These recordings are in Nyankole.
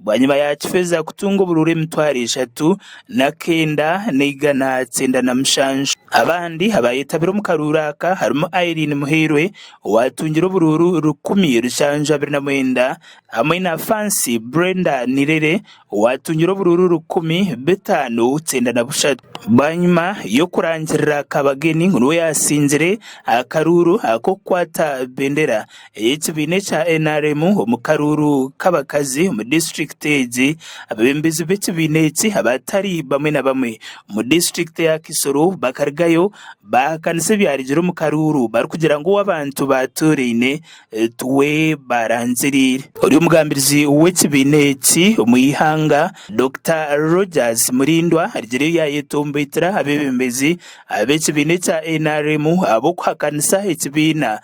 Bwanyima ya Kifeza kutunga oburuura emitwaro eshatu n'akenda n'eigana kyenda na mushanju. Abandi abaayetabire omu karuuru aka harimu Irene Muhairwe owaatungire oburuuru rukumi rushanju abiri na mwenda hamwe na Fancy Brenda Nirere owaatungire oburuuru rukumi bitaano kyenda na bushatu. Bwanyima y'okurangirira Kabagen ngu niwe yaasingire akaruuru ak'okukwata bendera ey'ekibiina ekya nrm omu karuuru k'abakazi omu disiturikiti egi, abeebembezi b'ekibiina eki abatari bamwe na bamwe omu disiturikiti ya Kisoro bakarugayo baahakanisa ebyarugire omu karuuru barikugira ngu ow'abantu baatuuraine tuwe baarangiriire. Ori omugambirizi w'ekibiina eki omu ihanga Dokita Rogers Murindwa arugire yaayetomboitira abeebembezi b'ekibiina ekya nrm ahabw'okuhakanisa ekibiina.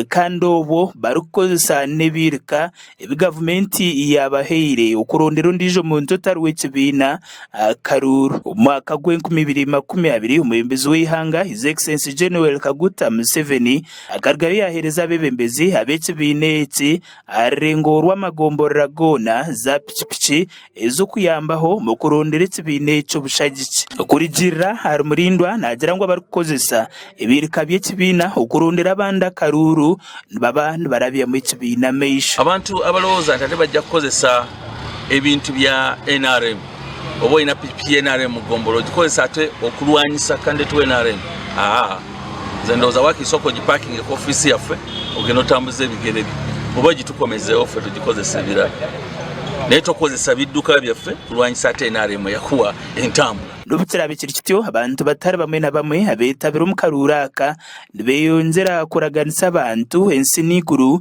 Kandi obwo barikukozesa n'ebiirika ebi gavumenti yaabahaire okurondera ondiijo muntu otari w'ekibiina akaruuru. Omu mwaka gw'enkumi ibiri makumi abiri, omwebembezi w'eihanga His Excellency Gen Yoweri Kaguta Museveni akarugayo yaaheereza abeebembezi ab'ekibiina eki aha rurengo rw'amagomborora goona zaapiki piki ez'okuyambaho omu kurondera ekibiina ekyo bushagiki. Kurigirira ahari Mulindwa naagira ngu abarikukozesa ebirika by'ekibiina okurondera abandi akaruuru nibaba nibarabyamu ekibiina amaisho. Abantu abarowooza nti ati bajya kukozesa ebintu bya nrm oba oyine piki ya nrm mu gombolola ogikozesa ati okurwanyisa kandidate wa nrm? Haa. Nze ndowoza wakahitsya okogi parking ku office yaffe ogende otambuze ebigere byo oba gi tukomezeho ffe tugikozesa ebirara naye tokozesa biduka byaffe kulwanyisa ate nrm yakuwa entambura. N'obu kiraabe kiri kityo, abantu batari bamwe na bamwe abeetabire omu karuuru aka nibeyongyera kuraganisa abantu ensi n'eiguru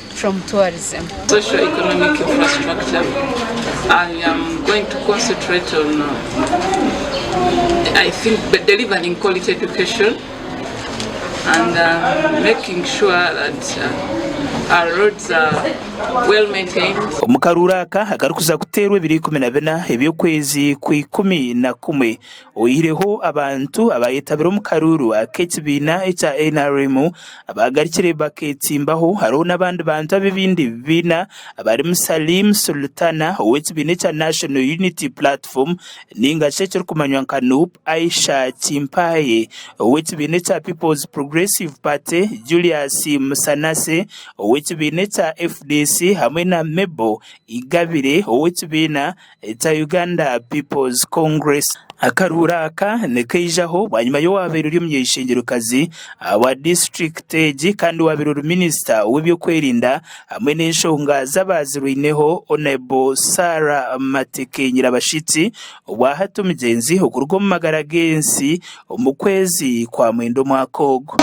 from tourism. Social economic infrastructure I am going to concentrate on I think the delivering quality education and making sure that our roads are well maintained. Omu karuuru aka akarikuza kuteerwa ebiro ikumi na bina eby'okwezi kwa ikumi na kumwe, Oyihireho abantu abaayetabire omu karuuru ak'ekibiina ekya nrm abaagarukire bakeetimbaho, hariho n'abandi bantu ab'ebindi bibiina abarimu Salim Sulutana ow'ekibiina ekya National Unity Platform nainga shi ekirikumanywa nka nup, Aisha Kimpaye ow'ekibiina ekya Peoples Progressive Party, Julius Musanase ow'ekibiina ekya fdc hamwe na Mabel Igabire ow'ekibiina. ekya Uganda People's Congress. Akaruura aka nikaijaho bwanyima y'owaabaire ori omunyeshengyerekazi wa disiturikiti egi kandi owaabaire ori minisita w'ebyokwerinda hamwe n'enshonga z'abaazirwaineho Honable Sarah Mateke Nyirabashitsi obwo ahata omugyenzi okuruga omu magara g'ensi omu kwezi kwa mwenda omwaka ogu.